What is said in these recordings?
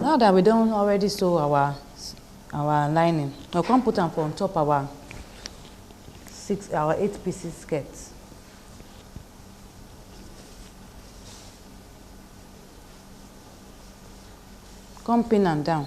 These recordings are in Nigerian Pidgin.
now that we don already sew our our lining we come put am for on top our six our eight pieces skirt come pin am down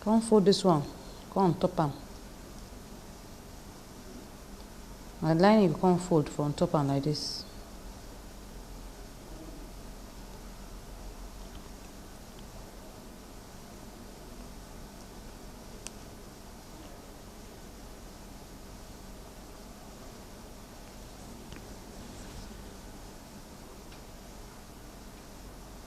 Come fold this one, come on top am. My lining go come fold for on top am like this.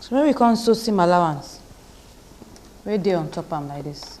So make we come sew seam allowance wey dey on top am like this.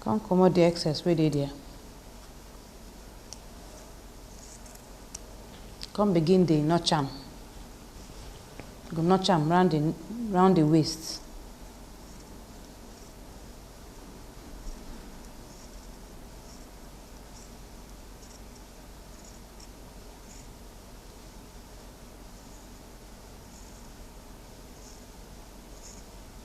come comot the excess wey dey there come begin dey notch am you go notch am round the round the waist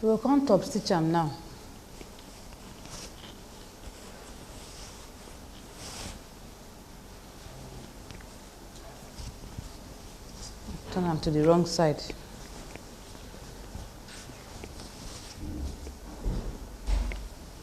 so we come top stitch am now turn am to the wrong side